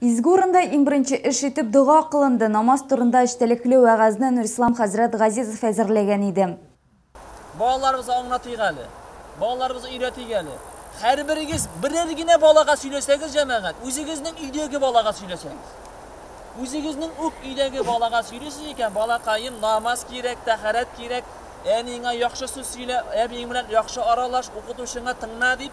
Изге урында иң беренче эш итеп дога кылынды, намаз турында эчтәлекле вәгазьне Нурислам хәзрәт Газизов әзерләгән иде. Балаларыбызга аңлатыйк әле, балаларыбызга өйрәтик әле. Һәрберегез берәр генә балага сөйләсәгез, җәмәгать, үзегезнең өйдәге балага сөйләсәгез. Үзегезнең үк өйдәге балага сөйлисез икән, балакаем, намаз кирәк, тәһарәт кирәк, әниеңә яхшы сүз сөйлә, әбиең белән яхшы аралаш, укытучыңа тыңла дип,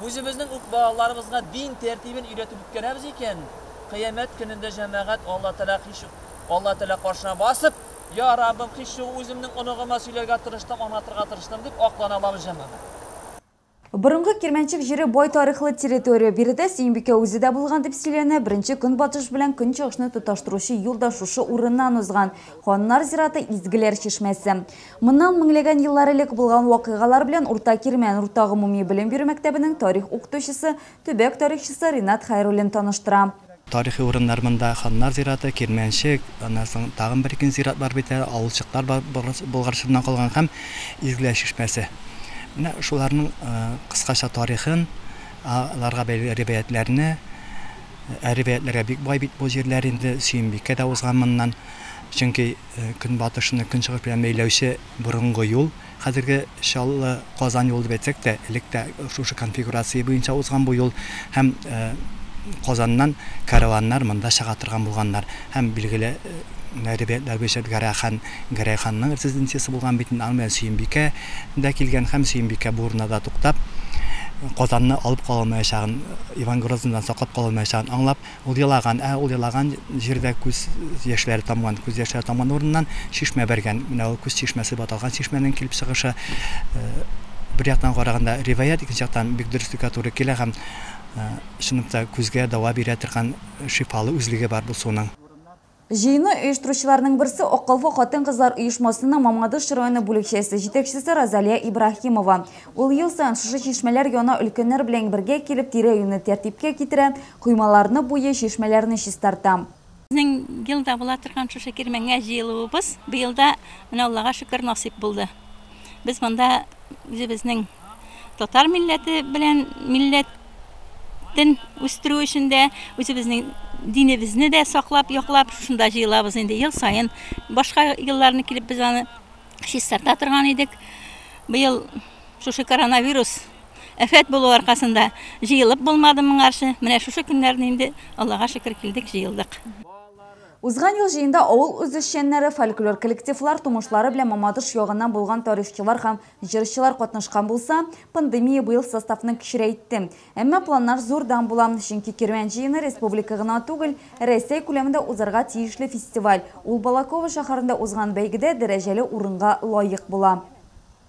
Үзебезнең үк балаларыбызга дин тәртибен өйрәтеп үткәрәбез икән, кыямәт көнендә җәмәгать Алла Тәгалә кич Алла Тәгалә каршына басып, Я Раббым, кичү үземнең оныгыма сөйләргә тырыштым, аңлатырга тырыштым, дип аклана алабыз җәмәгать. Борынгы Кирмәнчек җире бай тарихлы территория. Биредә Сөембикә үзе дә булган дип сөйләнә. Беренче Көнбатыш белән Көнчыгышны тоташтыручы юл да шушы урыннан узган. Ханнар зираты, изгеләр чишмәсе. Моннан меңләгән еллар элек булган вакыйгалар белән Урта Кирмән урта гомуми белем бирү мәктәбенең тарих укытучысы, төбәк тарихчысы Ринат Хәйруллин таныштыра. Тарихи урыннар монда, ханнар зираты, Кирмәнчек, аннан соң тагын бер-ике зират бар бит әле, авылчыклар бар, Болгар чорыннан калган һәм Изгеләй чишмәсе. Менә шуларның кыскача тарихын, аларга бәйле риваятьләрне, ә риваятьләргә бик бай бит бу җирләр инде, Сөембикә дә узган моннан, чөнки, Көнбатышны Көнчыгыш белән бәйләүче борынгы юл, хәзерге Чаллы, Казан юлы дип әйтсәк тә, элек тә шушы конфигурация буенча узган бу юл һәм Казаннан кәрваннар монда чыга торган булганнар. Һәм билгеле риваятьләр буенча Гәрәй хан, Гәрәй ханның резиденциясе булган бит инде, аның белән Сөембикә дә килгән һәм Сөембикә бу урыннарда туктап, Казанны алып кала алмаячагын, Иван Грозныйдан саклап кала алмаячагын аңлап, Ул елаган, ә ул елаган җирдә күз яшьләре тамган, күз яшьләре тамган урыннан чишмә бәргән. Менә ул күз чишмәсе дип аталган чишмәнең килеп чыгышы, бер яктан караганда риваять, икенче яктан бик дөреслеккә туры килә һәм чынлыкта күзгә дәва бирә торган шифалы үзлеге бар бу суның. Җыенны оештыручыларның берсе, Акыллы хатын-кызлар оешмасының Мамадыш районы бүлекчәсе җитәкчесе Розалия Ибраһимова. Ул ел саен шушы чишмәләр яна өлкәннәр белән бергә килеп, тирә-юньне тәртипкә китерә, коймаларны буйый, чишмәләрне чистарта. Безнең елда була торган шушы кирмәнгә җыелуыбыз быел да, менә Аллага шөкер, насыйп булды. Без монда үзебезнең. Татар милләте белән милләтен үстерү өчен дә үзебезнең динебезне дә саклап, яклап шунда җыелабыз инде ел саен. Башка елларны килеп без аны чистарта торган идек. Быел шушы коронавирус әфәт булу аркасында җыелып булмады моңарчы. Менә шушы көннәрне инде Аллага шөкер килдек, җыелдык. Узган ел җыенда авыл үзешчәннәре, фольклор коллективлар, тумышлары белән Мамадыш ягыннан булган тарихчылар һәм Җырчылар катнашкан булса, пандемия быел составны кечерәйтте. Әмма планнар зур дан була, чөнки Кирмән җыены республика гына түгел, Рәсәй күләмендә узарга тиешле фестиваль. Ул Балаково шәһәрендә узган бәйгедә дәрәҗәле урынга лаек була.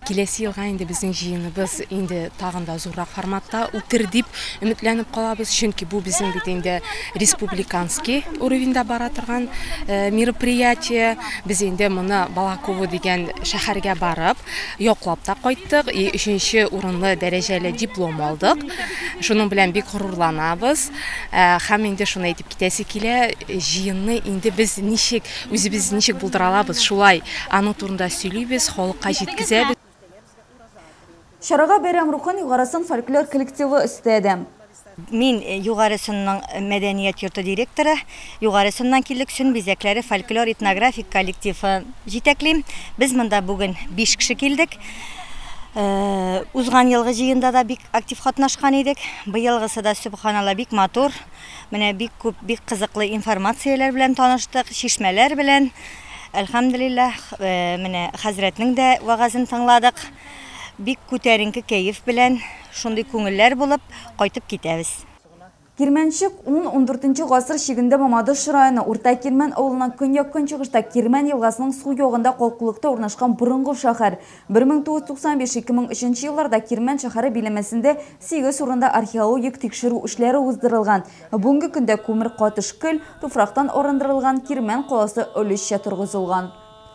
Киләсе елга инде безнең җыеныбыз инде тагын да зуррак форматта үтер дип өметләнеп калабыз, чөнки бу безнең бит инде республиканский уровеньда бара торган мероприятие. Без инде моны Балаково дигән шәһәргә барып, яклап та кайттык и өченче урынлы дәрәҗәле диплом алдык. Шуның белән бик горурланабыз. Һәм инде шуны әйтеп китәсе килә, җыенны инде без ничек, үзебез ничек булдыра алабыз, шулай аның турында сөйлибез, халыкка җиткезәбез. Чарага бәйрәм рухын Югарысын фольклор коллективы өстәде. Мин Югарысынның мәдәният йорты директоры. Югарысыннан килдек, Чын бизәкләре фольклор-этнографик коллективы җитәклим. Без монда бүген биш кеше килдек. Узган елгы җыенда да бик актив катнашкан идек. Быелгысы да, сөбханалла, бик матур. Менә бик күп, бик кызыклы информацияләр белән таныштык, чишмәләр белән. Әлхәмдулилләһ, менә хәзрәтнең дә вәгазен тыңладык. Бик күтәренке кәеф белән, шундый күңелләр булып кайтып китәбез. Кирмәнчек, ун-ундүртенче гасыр чигендә Мамадыш районы Урта Кирмән авылыннан көньяк-көнчыгышта Кирмән елгасының сул ягында калкулыкта урнашкан борынгы шәһәр. 1995-ике мең өченче елларда Кирмән шәһәре биләмәсендә сигез урында археологик тикшерү эшләре уздырылган. Бүгенге көндә күмер катыш көл, туфрактан арындырылган Кирмән каласы олешчә торгызылган.